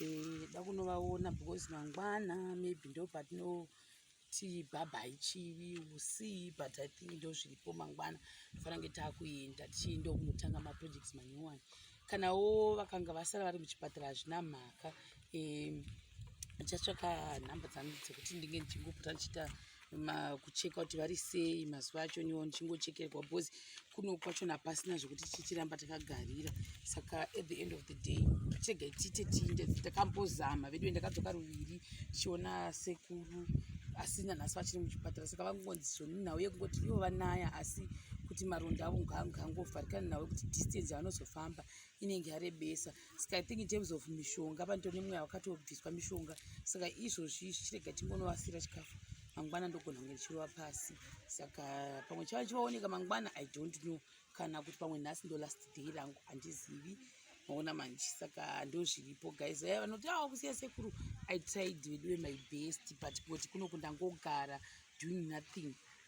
eh, da kunovaona because mangwana maybe ndo patinoti bhabhai chivi usii but i think ndo zviripo mangwana tofanira kunge taakuenda tichienda kunotanga maprojects manyowani kanawo vakanga vasara vari muchipatara hazvina mhaka um, ndichatsvaka nhamba dzangu dzekuti ndinge ndichingopota ndichiita kucheka kuti vari sei mazuva acho niwo ndichingochekerwa because kuno kwacho napasina zvekuti tichiramba takagarira saka at the end of the day chega tiite tiinde takambozama veduwe ndakadzoka ruviri tichiona sekuru asi nanhasi vachiri muchipatara saka vangongonzi zvoni nhau yekungoti ivo vanaya asi kuti maronda avo ngaangovharikana navo kuti distance yavanozofamba inenge yarebesa saka i think in terms of mishonga panito nemweya wakatobviswa mishonga saka izvozvi zvichirega tingonovasira chikafu mangwana ndogona kunge ndichirova pasi saka pamwe chava chivaoneka mangwana i don't know kana kuti pamwe nhasi ndo last day rangu handizivi maona manje saka ndozviripo guys aya vanoti awa ah, kusiya sekuru i tried veduwe my best but kuti kuno kundangogara doing nothing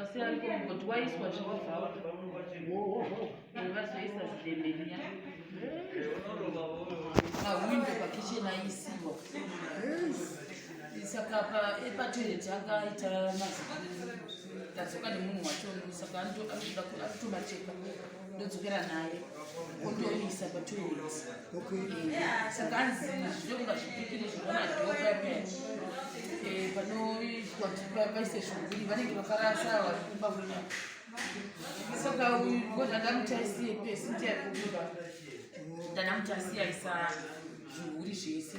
asi ariko kuti waiswa zvakabvawa vazoisa zidemberiya pawindo pakicheni aisiwa saka patoireti akaita mazidadzoka nemunhu wacho saka anotoda kutomacheka ndodzokera naye otoisa patoilet saka anzi zvidokunga zvipikiri zvinonadoapaise zviguri vanenge vakarasa varikumba kunya saka ngozvandamuchaisiye pesi ndiyakuba ndanamutasiyaisa zvihuri zvese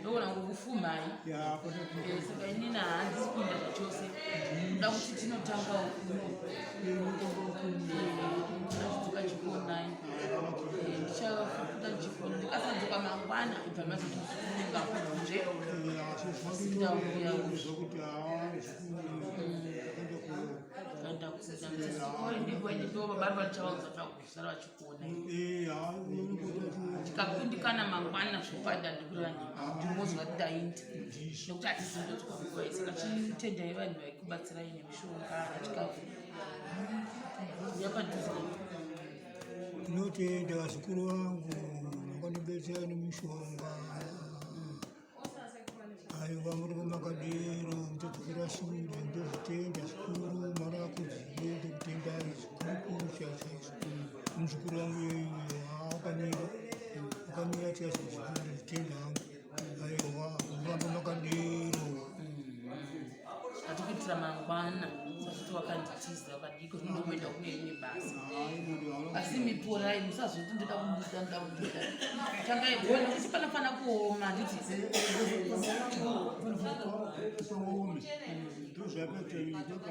ndoona ngokufumai eh, saka inini handisi kuenda zvachose ndoda kuti tinotanga ukunoadzoka chikonai eh, ndichafuta chikona ndikasadzoka mangwana ibva mazotozunga kunze ndauya ndakuzaa ndiko ndiko baba ndichavaudza zvako sara vachikuona tikakundikana mangwana zvopanda ndikurani ndimozwa ndaindi nokuti hatizimbotikongoesaka chitendai vanhu vaikubatsirai nemishonga achikafu yapadhuze ndinotenda vazukuru vangu vakandibetsera nemishonga aiwa murume makadero mutodzokera shure ndozvitenda zvikuru mwana wako dzive ndokutendai zvikurukuru chaizvozvo muzukuru wangu yoyo akamira akamira chaizvozvo ndozvitenda hangu aiwa murambo makadero atikuitira mangwana sazviti wakanditiza wakadiko zvinondokuenda kune imwe basa asi miporai musazviti ndoda kubuda ndoda kubuda tangai kuona kuti panofanira kuoma handiti ndozvakatoita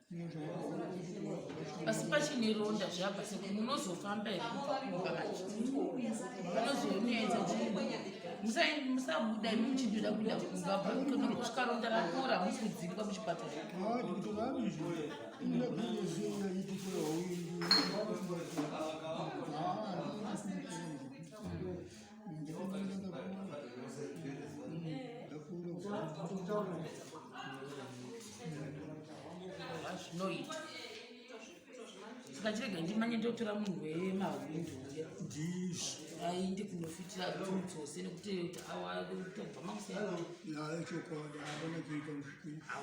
asi pachine ronda zvabva seko munozofamba here kubva kumba vacho munozonoedza musabuda imi muchidira kuda kumba bvakutoda kusvika ronda rakura hamusi kudzingwa muchipatara zvinoita saka chirega ndimanye ndotora munhu wemahwindo ainde kunofitira dzose nekuti awa tobva makusaichokwadi aona kuita